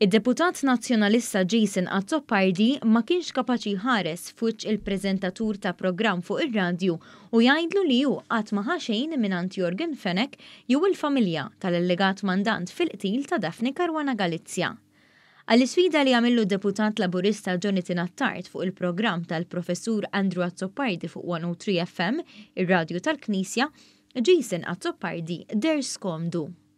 Id-Deputat Nazzjonalista Jason Azzopardi ma kienx kapaċi jħares f'wiċċ il-preżentatur ta' programm fuq ir-radju u jgħidlu li hu qatt ma ħa xejn mingħand Yorgen Fenech jew il-familja tal-allegat mandant fil-qtil ta' Daphne Caruana Galizia. Għall-isfida li għamillu d-Deputat Laburista Jonathan Attard fuq il-programm tal-Professur Andrew Azzopardi fuq 103FM, ir-radju tal-Knisja, Jason Azzopardi deher skomdu.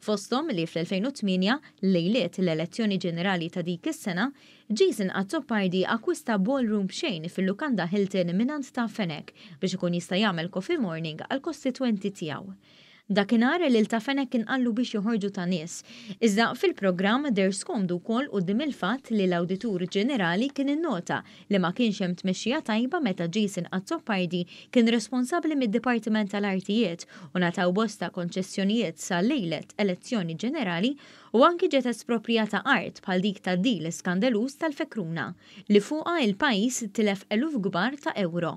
fosthom li fl-2008, lejliet l-elezzjoni ġenerali ta' dik is-sena, Jason Azzopardi akkwista ballroom b'xejn fil-lukanda Hilton mingħand Ta' Fenech biex ikun jista' jagħmel coffee morning għall-kostitwenti tiegħu. Dakinhar, lil Ta' Fenech kien qallu biex joħorġu ta' nies, iżda fil-programm deher skomdu wkoll quddiem il-fatt li l-Awditur Ġenerali kien innota li ma kienx hemm tmexxija tajba meta Jason Azzopardi kien responsabbli mid-Dipartiment tal-Artijiet u ngħataw bosta konċessjonijiet sa lejlet elezzjoni ġenerali u anki ġiet esproprjata art bħal dik tad-deal skandaluż tal-Fekruna li fuqha il-pajjiż tilef eluf kbar ta' ewro.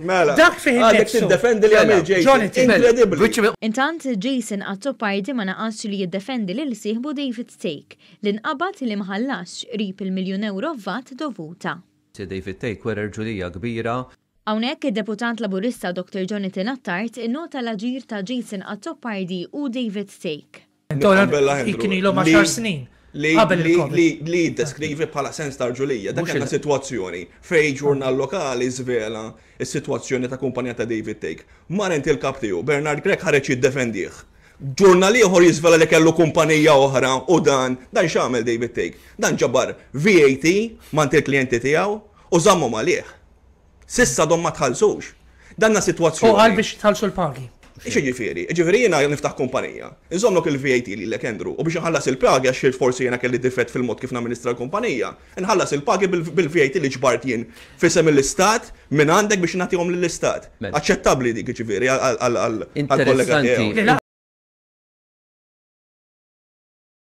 Mela, Dak fih għadek innifsu. tiddefendi li għamil Jason. Jonathan. Inkredibbli. Intant, Jason Azzopardi ma naqasx li jiddefendi lil sieħbu David Thake, li nqabad li ma ħallasx qrib il-miljun ewro vat dovuta. Sir David Thake wera rġulija kbira. Hawnhekk, id-Deputat Laburista Dr Jonathan Attard innota l-aġir ta' Jason Azzopardi u David Thake. Li jiddeskrivi bħala sens ta' ġulija, dak kien situazzjoni fej ġurnal lokali zvela s-situazzjoni ta' kumpanija ta' David Take. Mar inti l-kap tiegħu, Bernard Grech ħareġ jiddefendih. Ġurnal ieħor jiżvela li kellu kumpanija oħra u dan, dan x'għamel David Take? Dan ġabar VAT mant il-klijenti tiegħu u żammhom għalih. S'issa għadhom ma tħallsux. Danna sitwazzjoni. U qal biex jitħallsu l-pagi. X'jiġifieri? Jiġifieri jiena niftaħ kumpanija, inżommlok il-VAT lilek Andrew u biex inħallas il-pagi għax sirt forsi jiena kelli difett fil-mod kif namministra l-kumpanija, inħallas il-pagi bil-VAT li ġbart jien f'isem l-Istat mingħandek biex nagħtihom lill-Istat. Aċċettabbli dik jiġifieri għall-kollega tiegħu.